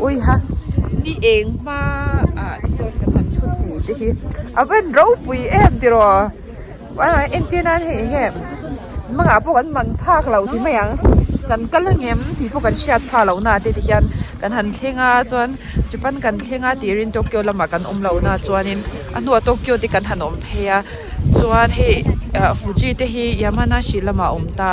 Uiha ni eng hma ah te chuan kan han thu thu te hi a van ropui em tiraw entir nan hei eng nge hmangah pawh kan man phak lo ti mai ang kan kal a ngem tih pawh kan hriat phah lo na te ti hian kan han thleng a chuan chupan kan thleng a tir in Tokyo lamah kan awm lo na chuan in a hnua Tokyo te kan han awm phei a chuan hei Fuji te hi Yamanashi lamah a awm ta.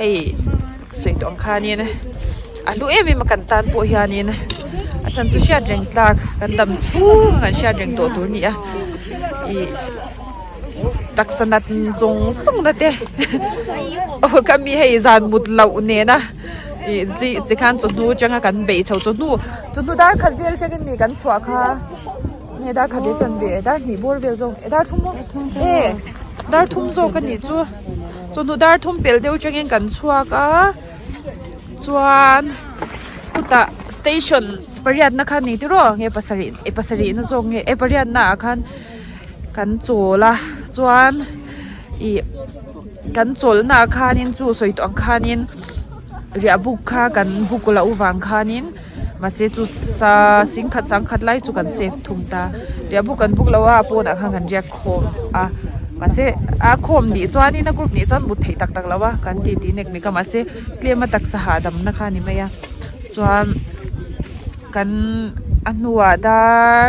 hei sawi tawh ang khanin a hlu em em a kan tan pawh hianin a chan chu hriat reng tlak kan dam chhung a kan hriat reng tawh tur a ni a ih taksa nat zawng zawng na te aw ka mi hei zan mut loh nena ih zih chi khan chawhnu atanga kan bei chho chawhnu chawhnu darkhat vel atangin mi kan chhuah kha nge darkhat hi a chanve darhnih bawr vel zawng darthum maw e darthum zawk a nih chu. Chu hnu dar thum pel deuh changin kan chhuak a, chuan khutah station pariatna khan ni tiraw nge pasarih e pasarih na zawk nge e pariatna ah khan kan chawl a chuan ih kan chawlhna ah khanin chu sawi tawh ang khanin riahbuk kha kan buk loh vang khanin. Mahse chu sa sing khat sang khat lai chu kan save thung ta. Riah buk kan buk lo a, a pawnah khan kan riak khawm a. Mahse a khawm nih chuanin a group nih chuan mut theih tak tak lo a, kan titi nek nek a. Mahse tlem a taksa hahdamna kha a ni mai a. Chuan kan a hnua dar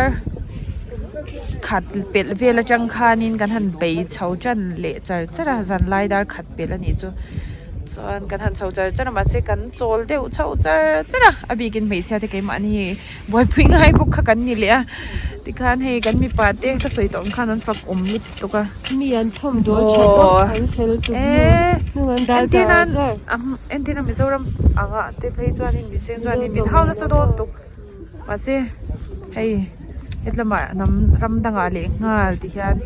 khat pelh vel atang khanin kan han bei chho tan leh char char a, zanlai dar khat pelh a nih chu. Chuan kan han chho char char a mah se kan chawl deuh chho char char a, a bikin hmeichhia te keimahni hei buaipui ngai bawk kha kan ni leh a, tikhan hei kan mipa te ka sawi tawh ang khan an fak awm lutuk lutuk a. Mi an thawm dual tha zawk a an fel tuk mai. Mahse, hei hetlama hnam ram dangah leh nghal tih hian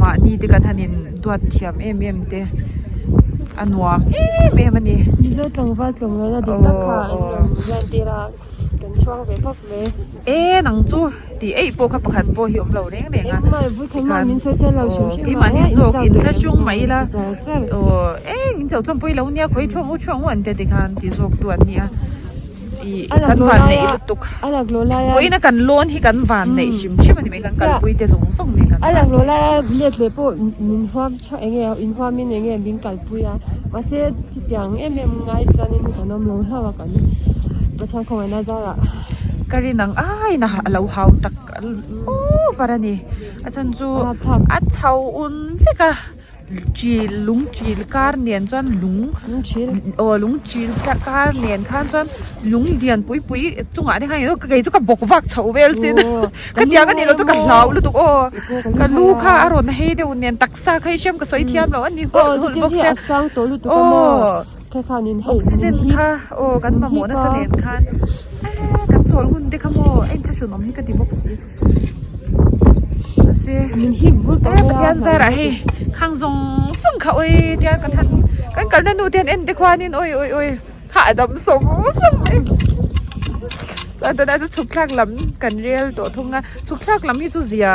mahni te kan han in duat thiam em em te a nuam em em a ni. Mizo tlangval tlawm loh na dik tak kha an rawn zan tir a, kan chuang ve vak mai. E nang chu ti eih pawh kha pakhat pawh hi awm lo reng reng a. Engmah e, Vuthleng mah min sawi sawi lo hrim hrim a. Aw, keimah hi zawk in la hung mai ila, aw eng in chauh chawm pawh i lo nia, khawi thuang u thuang u an tia tikhan tih zawk tu an ni a. kan van neih lutuk pawhin a kan lawn hi kan van neih hrim hrim a ni mai kan kalpui te zawng zawng mai kan van neih a let leh pawh min huam tha eng nge in huam in eng nge min kalpui a mahse chutiang em em ngai chuan in kan awm lo hlauh a kan pathian khawngaih na zar ah ka rin ang ai na a lo hau tak over a ni a chhan chu a chho un vek a. chil lung chil kar nen chuan lung aw lung chil kar nen khan chuan lung lian pui pui chungah te hian kei chu ka bawk vak chhoh vel si ka tiang a nih loh chu ka hlau lutuk aw ka lu kha a rawn hei deuh nen taksa kha i hriam ka sawi thiam lo a ni hawlh hawlh bawk se aw. Oxygen kha aw kan mamawh nasa nen khan eee kan chawl hun te kha maw eng thlahrun awm hi ka ti bawk si mahse eee pathian zarah hei khang zawng zawng kha awi tiang ka than kan kalna nu te en te khuan in awi awi awi kha a dam sawng sawng mai chuan tuna chu chhuk thlak lam kan rel tawh thung a chhuk thlak lam hi chu zia.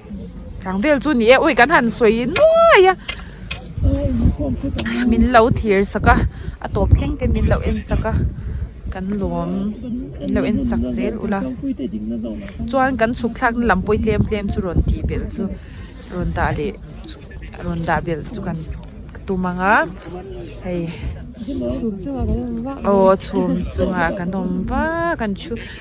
Tlang vel chu ni e ui kan han sawi nuai a min lo thlir sak a a tawp thleng te min lo en sak a kan lawm min lo en sak zel ula chuan kan chhuk thlak na lam pawi tlem tlem chu rawn ti belh chu rawn dah leh rawn dah belh chu kan tum ang a hei aw chhum chungah kan awm va kan thu.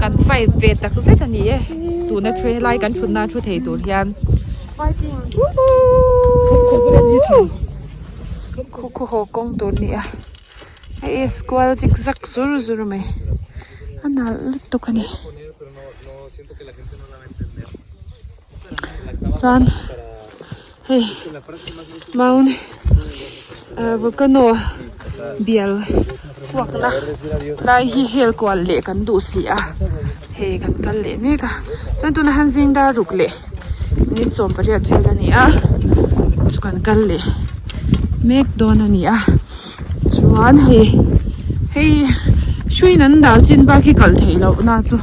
kan fight ve tak zet a ni e tuna thu helai kan thutna thu thei tur hian uhuuhh. khaw khaw haw kawng tur nia hei e square zig zag zur zur mai a nalh lutuk a ni chuan hei mount ahh volcano bial. Kuakna lai hi hel kual leh kan duh si a, hei kan kal leh mek a, chuan tuna han zing dar ruk leh ni sawm pariat vel a ni a, chu kan kal leh mek dawn a ni a, chuan hei hei hruiin an dah chin bak hi kalh theih loh na chu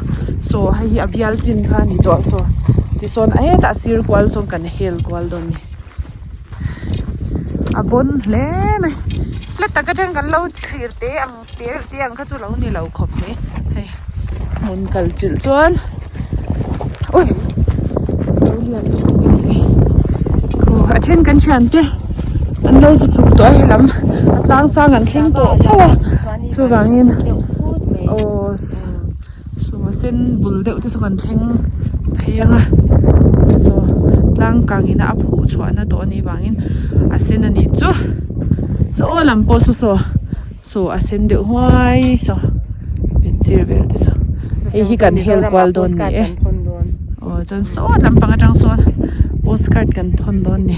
saw hei hi a bial chin kha a ni tawh saw tisawn a hetah sir kual sawn kan hel kual dawn a ni. a bawn hle mai hla tak atang kan lo thlir te ang te reuh te ang kha chu lo ni lo khawp mai hei hmun kal chilh chuan ui a then kan thian te an lo zu chhuk tawh a he lam a tlang sang an thleng tawh tho a chuvangin aw. Sawh a sen bul deuh te chu kan thleng phei ang a chaw tlang kang ina a phuh chhuah na tawh anih vangin a sen a nih chu saw lam pawh chu saw saw a sen deuh huai saw in sir vel te chu hei hi kan hel kual dawn ni e aw chuan sawt lampang atang sawn postcard kan thawn dawn ni.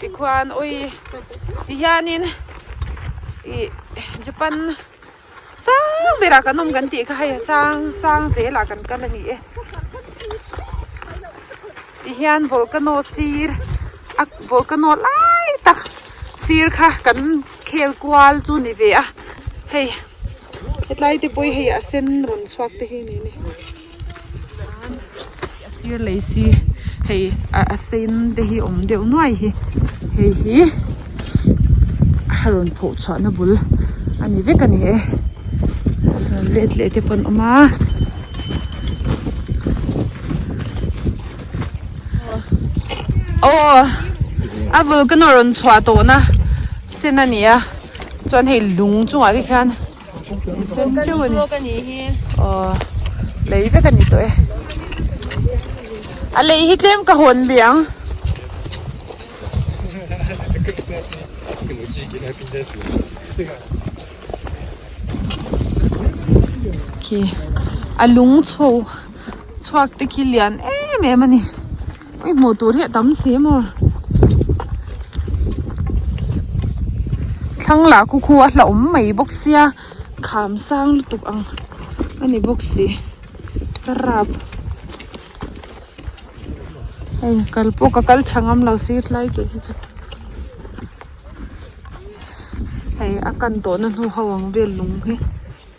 Tikhuan ui ti hianin ih Japan sang berah kan awm kan tih kha hei sang sang zelah kan kal a ni e. Tihian volcano sir a volcano lai tak sir kha kan khel kual chu ni ve a hei hetlai te pawh i hei a sen rawn chhuak te hi a ni e. a sir lei si hei a sen te hi awm deuh nuai hi hei hi a rawn pho chhuah na bul a ni vek a ni e rawn let leh te pawh an awm a aw a vulcano rawn chhuah tawh na sen a ni a chuan hei lung chungah te khian-- Sen teuh a ni aww lei vek a ni tawh e a lei hi tlem ka hawn ve ang khi a lung chho chhuak te khi lian em em a ni. I hmuh tur hi a tam si em aw. Thlang lah kukhu a hlauhawm mai bawk sia kham sang lutuk ang a ni bawk si. Ka rap hei kal pawh ka kal tha ngam lo si tlai teh hi chu. Hei a kan tawhna hnu ho ang vel lung hi.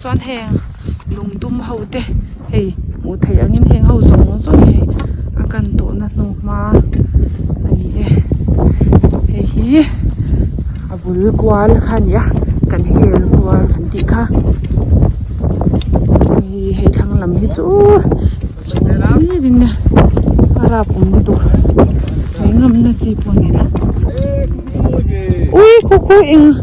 Chuan heng lungdum ho te hei hmuh theih ang in heng ho zawng zawng hi hei a kan tawhna hnu hma a ni e hei hi a bul kual kha a ni a kan hel kual kan tih kha hei he thlang lam hi chu chhum hlir in a rap awm lutuk tawh thawihngamna chi pawh a ni lo ui khawkhaw eng--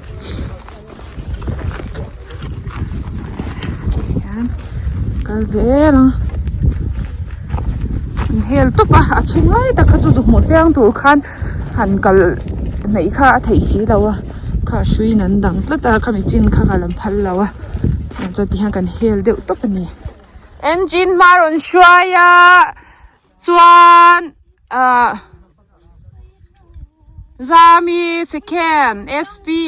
hian kal zel a inhel tawp a a chhung lai tak kha chu zukmuh chiang tur khan han kal hnaih kha a theih si lo a kha a hruiin an dang tlat a khami chin kha ka la phal lo a tiang chuan tihian kan hel deuh tawp a ni engine hma rawn hruai a. chuan ah zami sekhen spe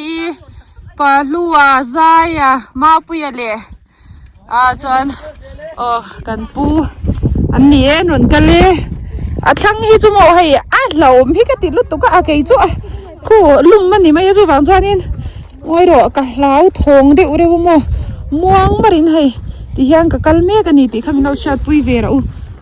pahlua zaia mapuia leh ah chuan aw kan pu an ni e an rawn kal e a thlang hi chu maw hei a hlauhawm hi ka ti lutuk a a kei chu a khu lum a ni mai a chuvang chuanin ngawi rawh ka hlau thawng deuh reuh a maw muang marin hei ti hian ka kal mek a ni tih kha min lo hriatpui ve rah u.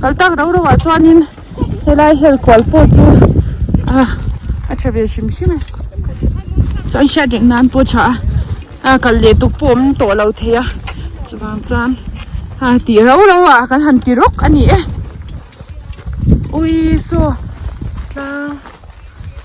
kal tak rau rau ah chuanin helai hel kual pawh chu ah a tha ve hrim hrim a chuan hriat reh nan pawh a tha a a kal leh tuk pawh awm tawh lo thei a chuvang chuan a tih rau rau a kan han ti rawk a ni e ui saw tlang.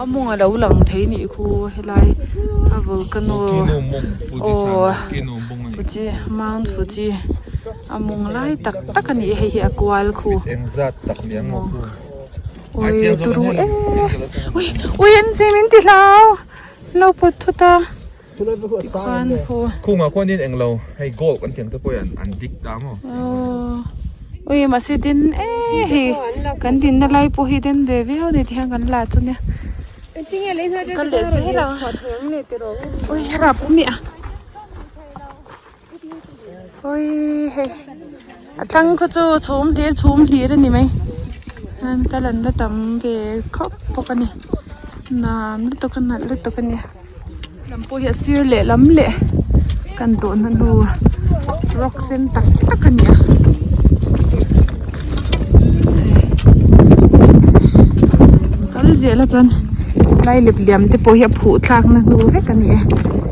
a mawng a lo lang thei nih khaw helai a volcano aw fuji mount fuji a mawng lai tak tak a ni hei hi a kual khu awii turu eee ui ui an chim in ti hlau lo pawt thut a. Tikhuan khaw a. Khungah khuan in englo hei gold kan tih ang te pawh hian an dik ta maw. Aww ui mahse den e hi kan dinna lai pawh hi den ve viau ni tihian kan la chu nia. Ka leh zel ang ui rap miah. Ui hei a tlang khaw chu chhum hlir chhum hlir a ni mai chuan ka lan la tam ve khawp bawk a ni nam lutuk a nalh lutuk a ni a lam pawh hi a sir lehlam leh kan dawn a hnu rock sen tak tak a ni a kal ziah la chuan tlai lep liam te pawh hi a phuh thlak na hnu vek a ni e.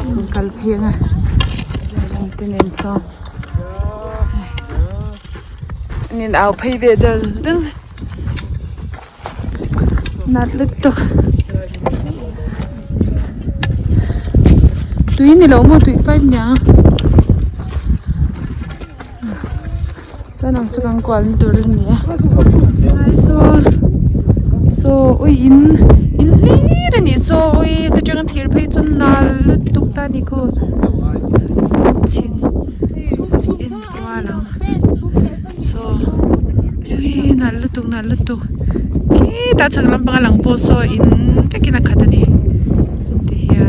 an kal phian a an ti nen chuan an in au phei ve dal dal a nat lutuk tak tui ni loh maw tui pipe nia. Chuan ang chu kan kual na tur la ni a helai saw saw ui in in hlir a nih saw ui ta tang hian thir phei chu nal lutuk ta ni ku chhin in kual ang saw ui nal lutuk nal lutuk khitah a chhak lampang a lang pawh saw in vek in a khat a ni ti hian.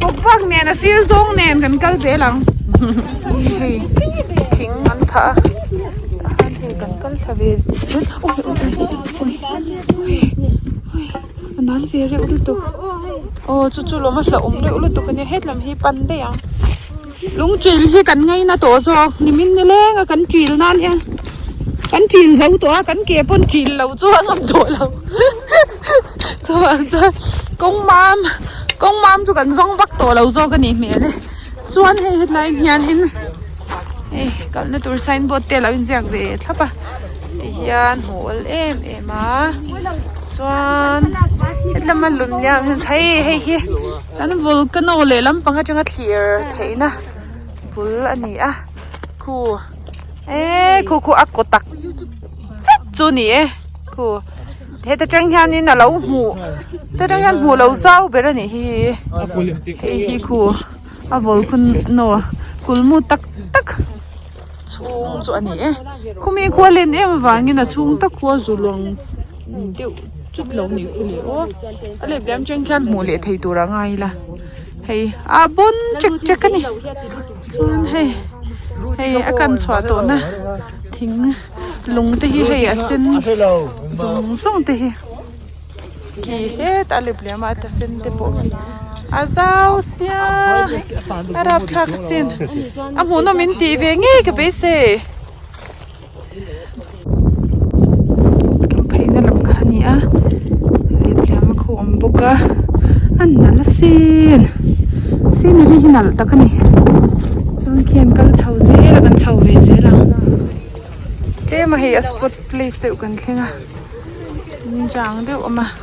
Pawphuak nen a sir zawng nen kan kal zel ang. Hei thing an phah a. Tah hian hei kan kal thla ve zel awh awh awh awh a nal ve reuh lutuk. Aw chu chu lawma hla awm reuh lutuk a nia. Hetlam hi pan daih ang. Lungchil hi kan ngei na tawh zawk. Nimin nileng a kan chil nan hian kan chil zo tawh a kan ke pawn chil lo chu a ngam tawh lo. Chuan chuan kawng mam kawng mam chu kan zawng vak tawh lo zawk a nih hmel e chuan hei hetlai hian in hei kalna tur sign board te a lo inziak ve thlap a ti hian hmuh awl em em a chuan hetlam a lun liam ah hian chhai hei hi kan volcano leh lampang atanga thlir theihna bul a ni a khu eee khu khu a kaw tak zet chu a ni e khu. He ta tang hian in alo hmuh ta tang hian hmuh lo zau ber anih hi hei hi khu a vawl khun no kul mu tak tak chhung chu ani e khumi khua len em avangin a chhung tak khua zu luang deuh chut lo anih khu leh aw a lep leh ang chang khian hmuh leh thei tur a ngai la hei a bun chek chek ani. Chuan hei hei a kan chhuah tawhna thing lung te hi hei a sen zawng zawng te hi khi het a lep leh a mah a ta sen te pawh khi a zau sia a rapthlak a sin a hmuhnawm in tih ve ngei ka beisei. Hlawh phaihna lam kha a ni a lemhliama kha a awm bawk a a nalh sin scenery hi nalh tak a ni chuan khian kal chho zel a kan chho ve zel ang tlem a hei a spot place deuh kan thleng a inzam deuh a awm a.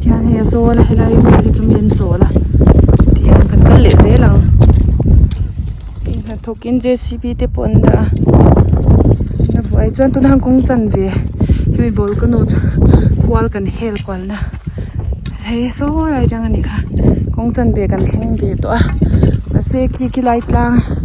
Tihian hei a zawl a helai vel hi chu mi an chawl a tih ang kan kal leh zel ang hei hnathawk in J_C_B te pawh an dah a tuna buai ah chuan tunah han kawng chan ve hemi volcano chu kual kan hel kual na hlei a sawi rai rang a ni kha kawng chan ve kan thleng ve tawh a mahse khi khilai tlang--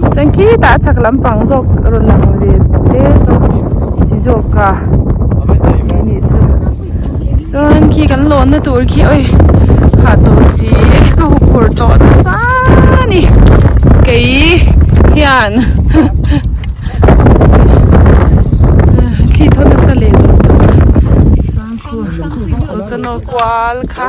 Chuan khitah a chhak lampang zawk a rawn lang ve te saw si zawk a ni anih chu chuan khi kan lawnna tur khi awi khah tawh si e ka huk phur tawh nasa a ni kei hian thli tho nasa leh duh duh a chuan khu ka nawr kual kha.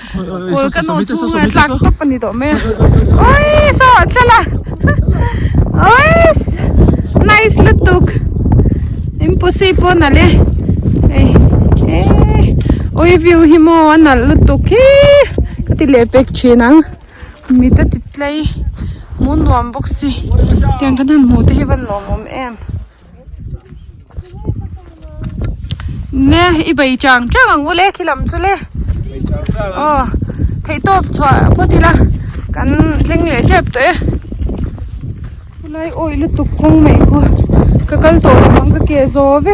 Kul ka nu chhung a tlak tawp a ni tawh mai a ui saw an thla la uiss nice lutuk impossible nalh e ei ei ui view hi maw a nalh lutuk hi ka ti leh pek thin ang mi te titlai mu nuam bawk si tiang kan han hmuh te hi van lawmawm em. Nge i bei chang chang ang ule khi lam chu le o thei top chua pawh tila kan thleng leh tep tawh e tunai awi lutuk kawng mai khaw ka kal tawh lo ang ka ke zawve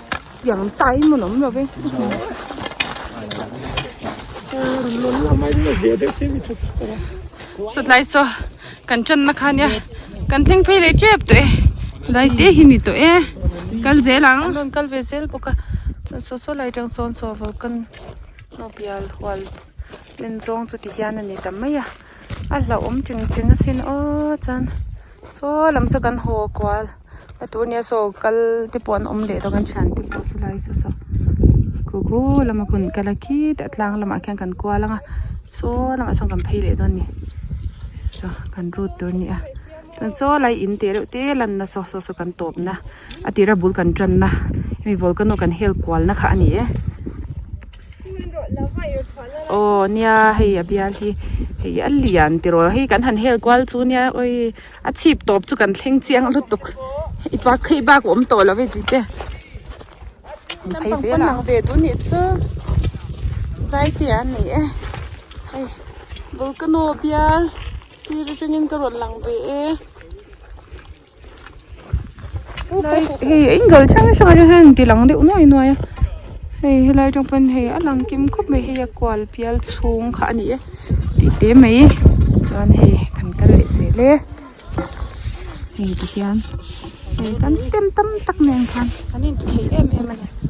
Tiang tai hmun awm lovin ka hmu a. Chutlai chu kan channa kha nia kan thleng phei leh tep tawh e lai te hi ni tawh e kal zel ang an rawn kal ve zel bawk a chuan saw saw lai tang sawn saw volcan hnu bial hual len zawng chu ti hian a ni ta mai a. a hlauhawm tling tling a sin aw chuan saw lam chu kan haw kual he tu nia saw kal te pawh an awm leh dawn a thian te pawh saw lai se sawm kawkhaw lama hun kala khit a tlang lamah khian kan kual anga saw lamah sawn kan phei leh dawn ni kan rut tur nia chuan saw lai in teh reuh te lan nasa saw kan tawp na. a tira bul kan tanna hemi volcano kan hel kualna kha a ni e aw nia hei a bial hi hei a lian tiraw hei kan han hel kual chu nia oi a chhip tawp chu kan thleng chiang lutuk i pa khei bak awm tawh lo e chi te an phei zel ang pawn ve duh nih chu zai te an ni e hei volcano bial sir atangin ka rawn lang ve e. hei a inzawlh chi hrang hrang atanga hian tilang deuh nuai nuai a hei helai tawng pawhin hei a lang kim khawp mai hei a kual bial chhung kha a ni e tih te mai chuan hei kan kal leh sel e hei tihian hei kan stem tam tak nen khan kan inti thei em em a ni.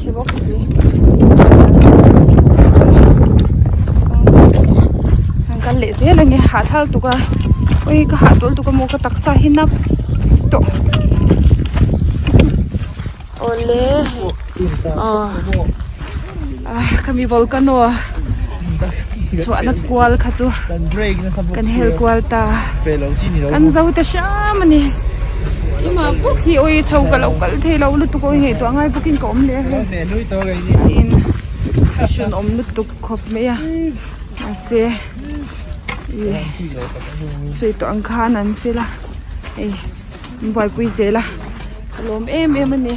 Chhe bawk si. Kan kal leh zel ania hahthlak tuka ui ka hahtawl tuka maw ka taksa hi nap tawh awle ah ka mi volcano a. chhuahna kual kha chu kan hel kual ta kan zo te hram a ni engah bawk hi aw i chho ka lo kal thei lo lutuk aw i ngaihtuah a ngai bawk in ka awm leh a hei tiin ka hran awm lutuk khawp mai a mahse ih sawi tawh ang khan an fel a hei an buaipui zel a ka lawm em em a ni.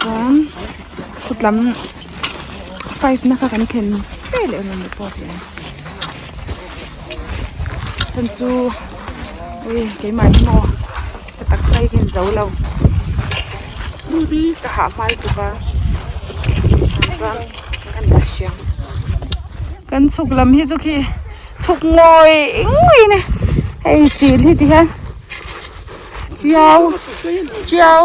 Chuan khawtlam five na kha kan thlen teh leh rawh ni pawh hian chan chu ui keimah hi maw ka taksa i rin zo lo ka hahmai tuk a tichuan ka han ta hria kan chhuk lam hi chu khi chhuk ngawi ngawi in a hei chilh hi ti hian chiau chiau.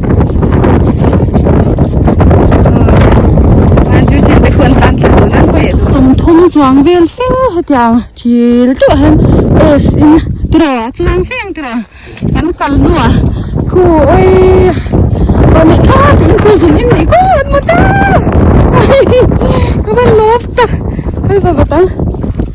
sawmthum chuang vel fe hetiang chil teuhah hian S in tiraua chuang fe ang tiraua kan kal hnuah khu awii pawh leh tha tak in khu zun inneih kual an mut a ka va lawm tak kal va vat ang.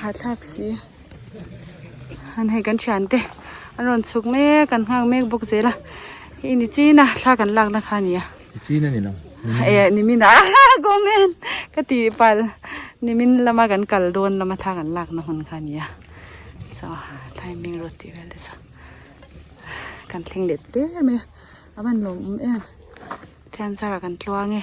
Hahthlak si an hei kan thian te an rawn chhuk mek an nghak mek bawk zel a hei ni chin a thla kan lakna kha a ni a ni chin a ni lo eh nimin ah comment ka ti pal nimin lama kan kal dawn lama thla kan lakna hun kha a ni a so thlai mi rawt tih vel te chu kan thleng let ber mai a a van lawm awm em khiansakah kan tluang e.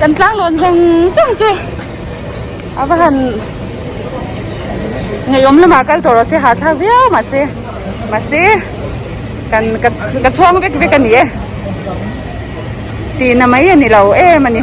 Kan tlang lawn zawng zawng chu a va han ngeiawm lamah kal tawh rawh se hahthlak viau mah se mahse kan ka chhuang vek vek a ni e tihna mai a ni lo em a ni.